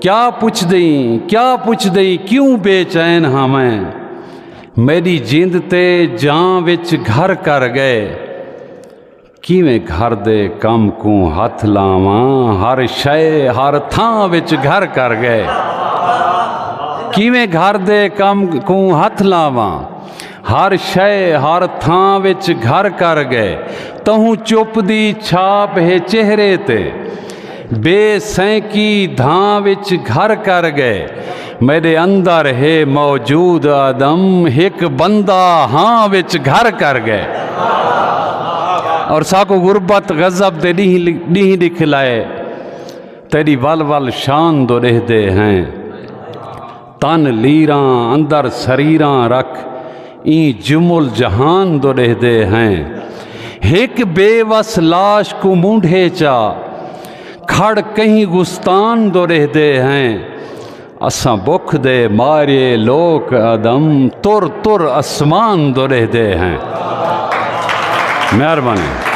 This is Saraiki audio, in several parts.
کیا پچھ دئیں کیا پچھ دئیں کیوں بے چین ہاں میں میری جند تے جان وچ گھر کر گئے کیویں گھر دے کم کو ہاتھ لاواں ہر شے ہر تھاں وچ گھر کر گئے کیویں گھر دے کم کو ہاتھ لاواں ہر شئے ہر تھاں وچ گھر کر گئے تہوں چپ دی چھاپ ہے چہرے تے بے سینکی دھاں وچ گھر کر گئے میرے اندر ہے موجود آدم ہک بندہ ہاں وچ گھر کر گئے اور ساکو غربت غضب دے ڈیہی دکھ لائے تیری ول ول شان دو رہ دے ہیں تن لیراں اندر سریراں رکھ این جمل جہان دو ڈہ دے ہیں ہک بے وس لاش کو مونڈھے چا کھڑ کہیں گستان دو ڈہ دے ہیں اساں بکھ دے مارے لوک ادم تر تر اسمان دو ڈہ دے ہیں مہربانی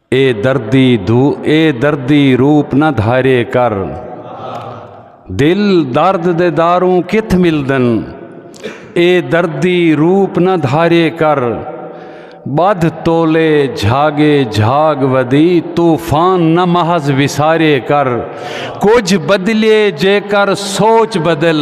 اے دردی دھو اے دردی روپ نہ دھارے کر دل درد دے داروں کتھ ملدن اے دردی روپ نہ دھارے کر بدھ تولے جھاگے جھاگ ودی طوفان نہ محض وسارے کر کچھ بدلے جے کر سوچ بدل